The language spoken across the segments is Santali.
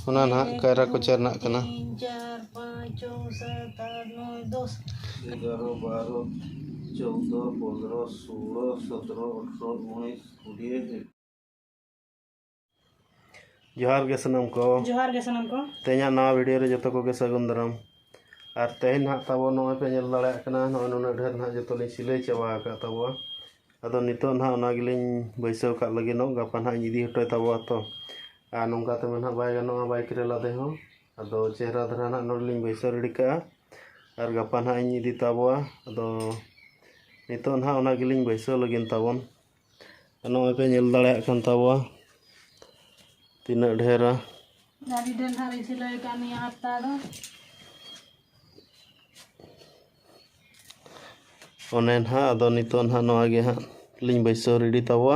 ᱚᱱᱟ ᱱᱟᱜ ᱠᱟᱭᱨᱟ ᱠᱚᱪᱟ ᱨᱮᱱᱟᱜ ᱠᱟᱱᱟ ᱡᱚᱦᱟᱨ ᱜᱮ ᱥᱟᱱᱟᱢ ᱠᱚ ᱡᱚᱦᱟᱨ ᱜᱮ ᱥᱟᱱᱟᱢ ᱠᱚ ᱛᱮᱦᱮᱧᱟᱜ ᱱᱟᱣᱟ ᱵᱷᱤᱰᱤᱭᱳ ᱨᱮ ᱡᱚᱛᱚ ᱠᱚᱜᱮ ᱥᱟᱹᱜᱩᱱ ᱫᱟᱨᱟᱢ ᱟᱨ ᱛᱮᱦᱮᱧ ᱱᱟᱜ ᱛᱟᱵᱚ ᱱᱚᱜᱼᱚᱭ ᱯᱮ ᱧᱮᱞ ᱫᱟᱲᱮᱭᱟᱜ ᱠᱟᱱᱟ ᱱᱚᱜᱼᱚᱭ ᱱᱩᱱᱟᱹᱜ ᱰᱷᱮᱨ ᱱᱟᱜ ᱡᱚᱛᱚ ᱞᱤᱧ ᱥᱤᱞᱟᱹᱭ ᱪᱟᱵᱟ ᱟᱠᱟᱫ ᱛᱟᱵᱚᱣᱟ ᱟᱫᱚ ᱱᱤᱛᱚᱜ ᱱᱟᱜ ᱚᱱᱟ ᱜᱮᱞᱤᱧ ᱵᱟᱹᱭᱥᱟᱹᱣ ᱠᱟᱜ ᱞᱟᱹᱜᱤᱫᱚᱜ ᱜᱟᱯᱟ ᱱᱟᱜ ᱤᱧ ᱤᱫᱤ ᱦᱚᱴᱚᱭ ᱛᱟᱵᱚᱣᱟ ᱛᱚ ᱟᱨ ᱱᱚᱝᱠᱟ ᱛᱮᱢᱟ ᱱᱟᱦᱟᱜ ᱵᱟᱭ ᱜᱟᱱᱚᱜᱼᱟ ᱵᱟᱭᱤᱠ ᱨᱮ ᱞᱟᱫᱮ ᱦᱚᱸ ᱟᱫᱚ ᱪᱮᱦᱨᱟ ᱫᱷᱟᱨᱟ ᱱᱟᱦᱟᱜ ᱱᱚᱰᱮ ᱞᱤᱧ ᱵᱟᱹᱭᱥᱟᱹᱣ ᱨᱮᱰᱤ ᱠᱟᱜᱼᱟ ᱟᱨ ᱜᱟᱯᱟ ᱱᱟᱦᱟᱜ ᱤᱧ ᱤᱫᱤ ᱛᱟᱵᱚᱣᱟ ᱟᱫᱚ ᱱᱤᱛᱚᱜ ᱱᱟᱦᱟᱜ ᱚᱱᱟ ᱜᱮᱞᱤᱧ ᱵᱟᱹᱭᱥᱟᱹᱣ ᱞᱟᱹᱜᱤᱫ ᱛᱟᱵᱚᱱ ᱟᱨ ᱱᱚᱜᱼᱚᱭ ᱯᱮ ᱧᱮᱞ ᱫᱟᱲᱮᱭᱟᱜ ᱠᱟᱱ ᱛᱟᱵᱚᱣᱟ ᱛᱤᱱᱟᱹᱜ ᱰᱷᱮᱨᱟ ᱟᱹᱰᱤ ᱰᱷᱮᱨ ᱱᱟᱦᱟᱜ ᱞᱤᱧ ᱥᱤᱞᱟᱹᱭ ᱠᱟᱜᱼᱟ ᱱᱤᱭᱟᱹ ᱦᱟᱯᱛᱟ ᱫᱚ ᱚᱱᱮ ᱱᱟᱦᱟᱜ ᱟᱫᱚ ᱱᱤᱛᱚᱜ ᱱᱟᱦᱟᱜ ᱱᱚᱣᱟ ᱜᱮ ᱦᱟᱸᱜ ᱞᱤᱧ ᱵᱟᱹᱭᱥᱟᱹᱣ ᱨᱮᱰᱤ ᱛᱟᱵᱚᱣᱟ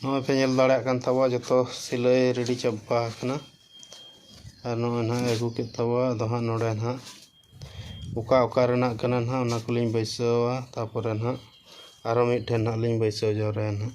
ᱱᱚᱜᱼᱚᱭ ᱯᱮ ᱧᱮᱞ ᱫᱟᱲᱮᱭᱟᱜ ᱠᱟᱱ ᱛᱟᱵᱚᱣᱟ ᱡᱚᱛᱚ ᱥᱤᱞᱟᱹᱭ ᱨᱮᱰᱤ ᱪᱟᱵᱟ ᱟᱠᱟᱱᱟ ᱟᱨ ᱱᱚᱜᱼᱚᱭ ᱱᱟᱦᱟᱜ ᱮ ᱟᱹᱜᱩ ᱠᱮᱫ ᱛᱟᱵᱚᱣᱟ ᱟᱫᱚ ᱦᱟᱸᱜ ᱱᱚᱸᱰᱮ ᱱᱟᱦᱟᱜ ᱚᱠᱟ ᱚᱠᱟ ᱨᱮᱱᱟᱜ ᱠᱟᱱᱟ ᱱᱟᱦᱟᱜ ᱚᱱᱟ ᱠᱚᱞᱤᱧ ᱵᱟᱹᱭᱥᱟᱹᱣᱟ ᱛᱟᱯᱚᱨᱮ ᱱᱟᱦᱟᱜ ᱟᱨᱚ ᱢᱤᱫᱴᱷᱮᱱ ᱱᱟᱦᱟᱜ ᱞᱤᱧ ᱵᱟᱹᱭᱥᱟᱹᱣ ᱡᱟᱣᱨᱟᱭᱟ ᱱᱟᱦᱟᱜ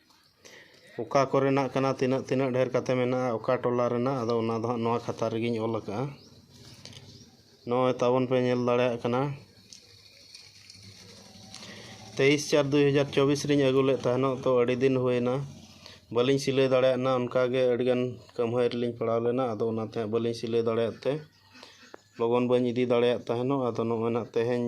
ᱚᱠᱟ ᱠᱚᱨᱮᱱᱟᱜ ᱠᱟᱱᱟ ᱛᱤᱱᱟᱹᱜ ᱛᱤᱱᱟᱹᱜ ᱰᱷᱮᱨ ᱠᱟᱛᱮ ᱢᱮᱱᱟᱜᱼᱟ ᱚᱠᱟ ᱴᱚᱞᱟ ᱨᱮᱱᱟᱜ ᱟᱫᱚ ᱚᱱᱟ ᱫᱚ ᱦᱟᱸᱜ ᱱᱚᱣᱟ ᱠᱷᱟᱛᱟ ᱨᱮᱜᱤᱧ ᱚᱞ ᱠᱟᱜᱼᱟ ᱱᱚᱜᱼᱚᱭ ᱛᱟᱵᱚᱱ ᱯᱮ ᱧᱮᱞ ᱫᱟᱲᱮᱭᱟᱜ ᱠᱟᱱᱟ ᱛᱮᱭᱤᱥ ᱪᱟᱨ ᱫᱩᱭ ᱦᱟᱡᱟᱨ ᱪᱚᱵᱵᱤᱥ ᱨᱤᱧ ᱟᱹᱜᱩ ᱞᱮᱫ ᱛᱟᱦᱮᱱᱚᱜ ᱛᱚ ᱟᱹᱰᱤ ᱫᱤᱱ ᱦᱩᱭᱮᱱᱟ ᱵᱟᱹᱞᱤᱧ ᱥᱤᱞᱟᱹᱭ ᱫᱟᱲᱮᱭᱟᱜ ᱠᱟᱱᱟ ᱚᱱᱠᱟ ᱜᱮ ᱟᱹᱰᱤ ᱜᱟᱱ ᱠᱟᱹᱢᱦᱟᱹᱭ ᱨᱮᱞᱤᱧ ᱯᱟᱲᱟᱣ ᱞᱮᱱᱟ ᱟᱫᱚ ᱚᱱᱟᱛᱮ ᱦᱟᱸᱜ ᱵᱟᱹᱞᱤᱧ ᱥᱤᱞᱟᱹᱭ ᱫᱟᱲᱮᱭᱟᱫ ᱛᱮ ᱞᱚᱜᱚᱱ ᱵᱟᱹᱧ ᱤᱫᱤ ᱫᱟᱲᱮᱭᱟᱫ ᱛᱟᱦᱮᱱᱚᱜ ᱟᱫᱚ ᱱᱚᱜᱼᱚᱭ ᱱᱟᱜ ᱛᱮᱦᱮᱧ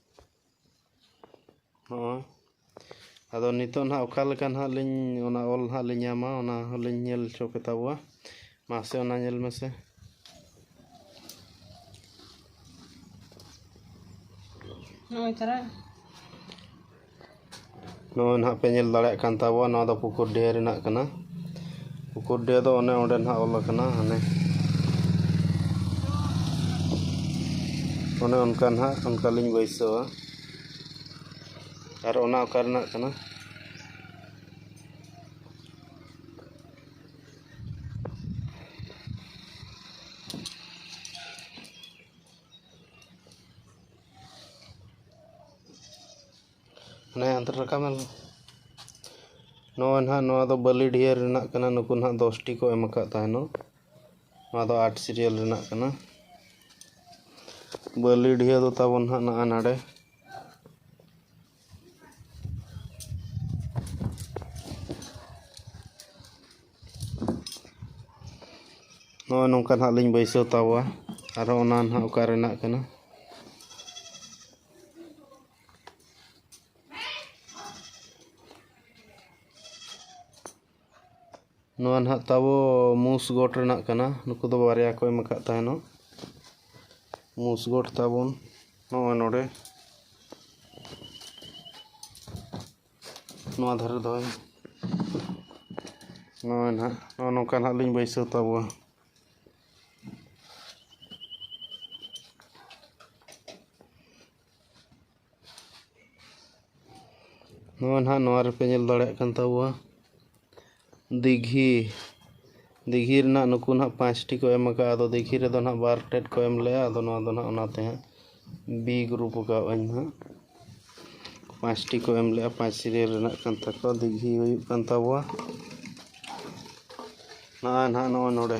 ᱦᱚᱸ ᱟᱫᱚ ᱱᱤᱛᱳᱜ ᱱᱟᱜ ᱚᱠᱟᱞᱮᱠᱟ ᱱᱟᱜ ᱞᱤᱧ ᱚᱱᱟ ᱚᱞ ᱱᱟᱜ ᱞᱤᱧ ᱧᱟᱢᱟ ᱚᱱᱟ ᱦᱚᱸᱞᱤᱧ ᱧᱮᱞ ᱦᱚᱪᱚ ᱯᱮᱛᱟ ᱠᱚᱣᱟ ᱢᱟᱥᱮ ᱚᱱᱟ ᱧᱮᱞ ᱢᱮᱥᱮ ᱱᱚᱜᱼᱚᱭ ᱛᱟᱨᱟ ᱱᱚᱜᱼᱚᱭ ᱱᱟᱦᱟᱜ ᱯᱮ ᱧᱮᱞ ᱫᱟᱲᱮᱭᱟᱜ ᱠᱟᱱ ᱛᱟᱵᱚᱣᱟ ᱱᱚᱣᱟ ᱫᱚ ᱯᱩᱠᱩᱨᱰᱤᱦᱟᱹ ᱨᱮᱱᱟᱜ ᱠᱟᱱᱟ ᱯᱩᱠᱩᱨᱰᱤᱦᱟᱹ ᱫᱚ ᱚᱱᱮ ᱚᱸᱰᱮ ᱱᱟᱦᱟᱜ ᱚᱞ ᱟᱠᱟᱱᱟ ᱦᱟᱱᱮ ᱚᱱᱮ ᱚᱱᱠᱟ ᱱᱟᱦᱟᱜ ᱚᱱᱠᱟ ᱞᱤᱧ ᱵᱟᱹᱭᱥᱟᱹᱣᱟ ᱟᱨ ᱚᱱᱟ ᱚᱠᱟ ᱨᱮᱱᱟᱜ ᱠᱟᱱᱟ ᱢᱟᱱᱮ ᱟᱫᱷᱟᱨ ᱨᱟᱠᱟᱵ ᱢᱮ ᱱᱚᱜᱼᱚᱭ ᱱᱟᱦᱟᱜ ᱱᱚᱣᱟ ᱫᱚ ᱵᱟᱹᱞᱤᱰᱤᱦᱟᱹ ᱨᱮᱱᱟᱜ ᱠᱟᱱᱟ ᱱᱩᱠᱩ ᱱᱟᱦᱟᱜ ᱫᱚᱥᱴᱤ ᱠᱚ ᱮᱢ ᱟᱠᱟᱫ ᱛᱟᱦᱮᱱᱚᱜ ᱱᱚᱣᱟ ᱫᱚ ᱟᱴ ᱥᱤᱨᱤᱭᱟᱞ ᱨᱮᱱᱟᱜ ᱠᱟᱱᱟ ᱵᱟᱹᱞᱤᱰᱤᱦᱟᱹ ᱫᱚ ᱛᱟᱵᱚᱱ ᱱᱟᱦᱟᱜ ᱱᱟᱜᱼᱟ ᱱᱟᱰᱮ ᱱᱚᱜᱼᱚᱭ ᱱᱚᱝᱠᱟ ᱱᱟᱦᱟᱜ ᱞᱤᱧ ᱵᱟᱹᱭᱥᱟᱹᱣ ᱛᱟᱵᱚᱣᱟ ᱟᱨᱦᱚᱸ ᱚᱱᱟ ᱱᱟᱦᱟᱜ ᱚᱠᱟ ᱨᱮᱱᱟᱜ ᱠᱟᱱᱟ ᱱᱚᱣᱟ ᱱᱟᱦᱟᱜ ᱛᱟᱵᱚ ᱢᱩᱥ ᱜᱚᱴ ᱨᱮᱱᱟᱜ ᱠᱟᱱᱟ ᱱᱩᱠᱩ ᱫᱚ ᱵᱟᱨᱭᱟ ᱠᱚ ᱮᱢ ᱟᱠᱟᱫ ᱛᱟᱦᱮᱱᱚᱜ ᱢᱩᱥ ᱜᱚᱴ ᱛᱟᱵᱚᱱ ᱱᱚᱜᱼᱚᱭ ᱱᱚᱰᱮ ᱱᱚᱣᱟ ᱫᱷᱟᱨᱮ ᱫᱚᱦᱚᱭ ᱱᱚᱜᱼᱚᱭ ᱱᱟᱦᱟᱜ ᱱᱚᱜᱼᱚ ᱱᱚᱝᱠᱟ ᱱᱟᱦᱟᱜ ᱞᱤᱧ ᱵᱟᱹᱭᱥᱟᱹᱣ ᱛᱟᱵᱚᱣᱟ ᱱᱚᱣᱟ ᱱᱟᱜ ᱱᱚᱣᱟ ᱨᱮᱯᱮ ᱧᱮᱞ ᱫᱟᱲᱮᱭᱟᱜ ᱠᱟᱱ ᱛᱟᱵᱚᱣᱟ ᱫᱤᱜᱷᱤ ᱫᱤᱜᱷᱤ ᱨᱮᱱᱟᱜ ᱱᱩᱠᱩ ᱱᱟᱜ ᱯᱟᱸᱪᱴᱤ ᱠᱚ ᱮᱢ ᱠᱟᱜᱼᱟ ᱟᱫᱚ ᱫᱤᱜᱷᱤ ᱨᱮᱫᱚ ᱱᱟᱜ ᱵᱟᱨ ᱴᱮᱱ ᱠᱚ ᱮᱢ ᱞᱮᱜᱼᱟ ᱟᱫᱚ ᱱᱚᱣᱟ ᱫᱚ ᱱᱟᱜ ᱚᱱᱟᱛᱮ ᱦᱟᱸᱜ ᱵᱤ ᱜᱨᱩᱯ ᱠᱟᱣᱟᱫᱼᱟᱹᱧ ᱦᱟᱸᱜ ᱯᱟᱸᱪᱴᱤ ᱠᱚ ᱮᱢ ᱞᱮᱜᱼᱟ ᱯᱟᱸᱪ ᱥᱤᱨᱤᱭᱟᱞ ᱨᱮᱱᱟᱜ ᱠᱟᱱ ᱛᱟᱠᱚᱣᱟ ᱫᱤᱜᱷᱤ ᱦᱩᱭᱩᱜ ᱠᱟᱱ ᱛᱟᱵᱚᱣᱟ ᱱᱚᱜᱼᱚᱭ ᱱᱟᱜ ᱱᱚᱜᱼᱚᱭ ᱱᱚᱰᱮ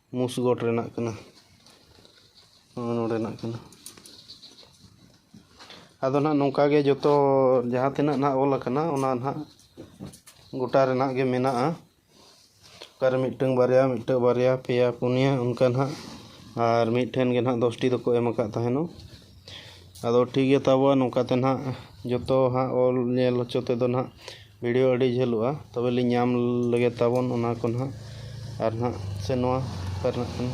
ᱢᱩᱥᱜᱚᱰ ᱨᱮᱱᱟᱜ ᱠᱟᱱᱟ ᱱᱚᱜᱼᱚᱭ ᱱᱚᱰᱮᱱᱟᱜ ᱠᱟᱱᱟ ᱟᱫᱚ ᱱᱟᱜ ᱱᱚᱝᱠᱟ ᱜᱮ ᱡᱚᱛᱚ ᱡᱟᱦᱟᱸ ᱛᱤᱱᱟᱹᱜ ᱱᱟᱜ ᱚᱞ ᱟᱠᱟᱱᱟ ᱚᱱᱟ ᱱᱟᱜ ᱜᱚᱴᱟ ᱨᱮᱱᱟᱜ ᱜᱮ ᱢᱮᱱᱟᱜᱼᱟ ᱚᱠᱟᱨᱮ ᱢᱤᱫᱴᱟᱹᱝ ᱵᱟᱨᱭᱟ ᱢᱤᱫᱴᱟᱹᱝ ᱵᱟᱨᱭᱟ ᱯᱮᱭᱟ ᱯᱩᱱᱭᱟᱹ ᱚᱱᱠᱟ ᱱᱟᱜ ᱟᱨ ᱢᱤᱫ ᱴᱷᱮᱱ ᱜᱮ ᱱᱟᱜ ᱫᱚᱥᱴᱤ ᱫᱚᱠᱚ ᱮᱢ ᱟᱠᱟᱫ ᱛᱟᱦᱮᱱᱚᱜ ᱟᱫᱚ ᱴᱷᱤᱠ ᱜᱮᱭᱟ ᱛᱟᱵᱚ ᱱᱚᱝᱠᱟ ᱛᱮ ᱱᱟᱜ ᱡᱚᱛᱚ ᱦᱟᱸᱜ ᱚᱞ ᱧᱮᱞ ᱦᱚᱪᱚ ᱛᱮᱫᱚ ᱱᱟᱜ ᱵᱷᱤᱰᱭᱳ ᱟᱹᱰᱤ ᱡᱷᱟᱹᱞᱚᱜᱼᱟ ᱛᱚᱵᱮ ᱞᱤᱧ ᱧᱟᱢ ᱞᱮᱜᱮ ᱛᱟᱵᱚᱱ ᱚᱱᱟ ᱠᱚ ᱱᱟᱜ ᱟᱨ ᱱᱟᱜ ᱥᱮ ᱱᱚᱣᱟ ᱚᱠᱟ ᱨᱮᱱᱟᱜ ᱠᱟᱱᱟ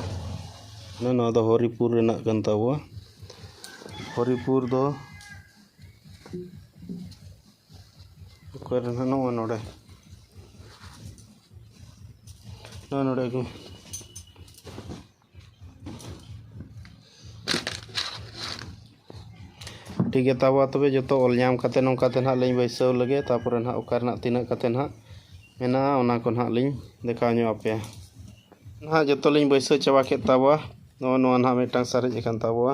ᱚᱱᱮ ᱱᱚᱣᱟ ᱫᱚ ᱦᱚᱨᱤᱯᱩᱨ ᱨᱮᱱᱟᱜ ᱠᱟᱱ ᱛᱟᱵᱚᱣᱟ ᱦᱚᱨᱤᱯᱩᱨ ᱫᱚ ᱚᱠᱟ ᱨᱮ ᱱᱟᱜ ᱱᱚᱜᱼᱚᱭ ᱱᱚᱰᱮ ᱱᱚᱜᱼᱚᱭ ᱱᱚᱰᱮ ᱜᱮ ᱴᱷᱤᱠ ᱜᱮᱭᱟ ᱛᱟᱵᱚ ᱛᱚᱵᱮ ᱡᱚᱛᱚ ᱚᱞ ᱧᱟᱢ ᱠᱟᱛᱮ ᱱᱚᱝᱠᱟ ᱛᱮ ᱱᱟᱦᱟᱜ ᱞᱤᱧ ᱵᱟᱹᱭᱥᱟᱹᱣ ᱞᱮᱜᱮ ᱛᱟᱯᱚᱨᱮ ᱱᱟᱦᱟᱜ ᱚᱠᱟ ᱨᱮᱱᱟᱜ ᱛᱤᱱᱟᱹᱜ ᱠᱟᱛᱮ ᱱᱟᱦᱟᱜ ᱢᱮᱱᱟᱜᱼᱟ ᱚᱱᱟ ᱠᱚ ᱱᱟᱦᱟᱜ ᱞᱤᱧ ᱫᱮᱠᱷᱟᱣ ᱧᱚᱜ ᱟᱯᱮᱭᱟ ᱱᱟᱦᱟᱜ ᱡᱚᱛᱚ ᱞᱤᱧ ᱵᱟᱹᱭᱥᱟᱹᱣ ᱪᱟᱵᱟ ᱠᱮᱫ ᱛᱟᱵᱚᱣᱟ ᱱᱚᱜᱼᱚ ᱱᱚᱣᱟ ᱱᱟᱦᱟᱜ ᱢᱤᱫᱴᱟᱝ ᱥᱟᱨᱮᱡ ᱟᱠᱟᱱ ᱛᱟᱵᱚᱣᱟ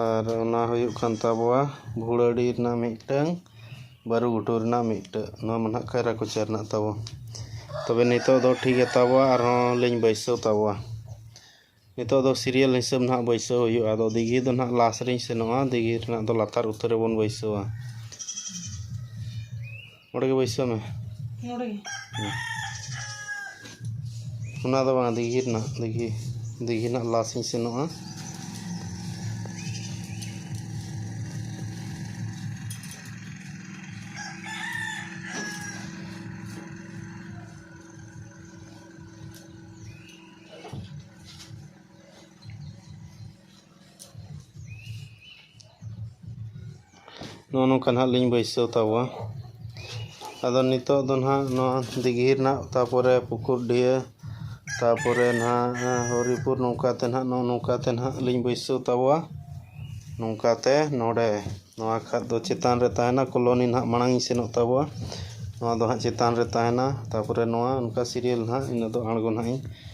ᱟᱨ ᱚᱱᱟ ᱦᱩᱭᱩᱜ ᱠᱟᱱ ᱛᱟᱵᱚᱣᱟ ᱵᱷᱩᱲᱟᱹᱰᱤ ᱨᱮᱱᱟᱜ ᱢᱤᱫᱴᱟᱹᱝ ᱵᱟᱹᱨᱩ ᱜᱷᱩᱴᱩ ᱨᱮᱱᱟᱜ ᱢᱤᱫᱴᱟᱹᱝ ᱱᱚᱣᱟ ᱢᱟ ᱱᱟᱜ ᱠᱟᱭᱨᱟ ᱠᱚᱪᱟ ᱨᱮᱱᱟᱜ ᱛᱟᱵᱚ ᱛᱚᱵᱮ ᱱᱤᱛᱳᱜ ᱫᱚ ᱴᱷᱤᱠ ᱜᱮ ᱛᱟᱵᱚᱣᱟ ᱟᱨᱦᱚᱸ ᱞᱤᱧ ᱵᱟᱹᱭᱥᱟᱹᱣ ᱛᱟᱵᱚᱣᱟ ᱱᱤᱛᱳᱜ ᱫᱚ ᱥᱤᱨᱤᱭᱟᱞ ᱦᱤᱥᱟᱹᱵᱽ ᱱᱟᱜ ᱵᱟᱹᱭᱥᱟᱹᱣ ᱦᱩᱭᱩᱜᱼᱟ ᱟᱫᱚ ᱫᱤᱜᱷᱤ ᱫᱚ ᱱᱟᱜ ᱞᱟᱥ ᱨᱤᱧ ᱥᱮᱱᱚᱜᱼᱟ ᱫᱤᱜᱷᱤ ᱨᱮᱱᱟᱜ ᱫᱚ ᱞᱟᱛᱟᱨ ᱩᱛᱟᱹᱨ ᱨᱮᱵᱚᱱ ᱵᱟᱹᱭᱥᱟᱹᱣᱟ ᱱᱚᱰᱮ ᱜᱮ ᱵᱟᱹᱭᱥᱟᱹᱣ ᱢᱮ ᱱᱚᱰᱮ ᱜᱮ ᱚᱱᱟ ᱫᱚ ᱵᱟᱝ ᱫᱤᱜᱷᱤ ᱨᱮᱱᱟᱜ ᱫᱤᱜᱷᱤ ᱫᱤᱜᱷᱤ ᱨᱮᱱᱟᱜ ᱞᱟᱥ ᱤᱧ ᱥᱮᱱᱚᱜᱼᱟ ᱱᱚᱜᱼᱚ ᱱᱚᱝᱠᱟ ᱱᱟᱜ ᱞᱤᱧ ᱵᱟᱹᱭᱥᱟᱹᱣ ᱛᱟᱵᱚᱣᱟ ᱟᱫᱚ ᱱᱤᱛᱳᱜ ᱫᱚ ᱱᱟᱜ ᱱᱚᱣᱟ ᱫᱤᱜᱷᱤ ᱨᱮᱱᱟᱜ ᱛᱟᱯᱚᱨᱮ ᱯᱩᱠᱩᱨᱰᱤᱦᱟᱹ ᱛᱟᱯᱚᱨᱮ ᱱᱟᱜ ᱦᱚᱨᱤᱯᱩᱨ ᱱᱚᱝᱠᱟ ᱛᱮ ᱱᱟᱜ ᱱᱚᱜᱼᱚ ᱱᱚᱝᱠᱟ ᱛᱮ ᱱᱟᱜ ᱞᱤᱧ ᱵᱟᱹᱭᱥᱟᱹᱣ ᱛᱟᱵᱚᱣᱟ ᱱᱚᱝᱠᱟ ᱛᱮ ᱱᱚᱸᱰᱮ ᱱᱚᱣᱟ ᱠᱷᱟᱱ ᱫᱚ ᱪᱮᱛᱟᱱ ᱨᱮ ᱛᱟᱦᱮᱱᱟ ᱠᱚᱞᱚᱱᱤ ᱱᱟᱜ ᱢᱟᱲᱟᱝ ᱤᱧ ᱥᱮᱱᱚᱜ ᱛᱟᱵᱚᱣᱟ ᱱᱚᱣᱟ ᱫᱚ ᱦᱟᱸᱜ ᱪᱮᱛᱟᱱ ᱨᱮ ᱛᱟᱦᱮᱱᱟ ᱛᱟᱯᱚᱨᱮ ᱱᱚᱣᱟ ᱚᱱᱠᱟ ᱥᱤᱨᱤᱭᱟᱞ ᱱᱟᱜ ᱤᱱᱟᱹ ᱫᱚ ᱟᱬᱜᱚ ᱱᱟᱜ ᱤᱧ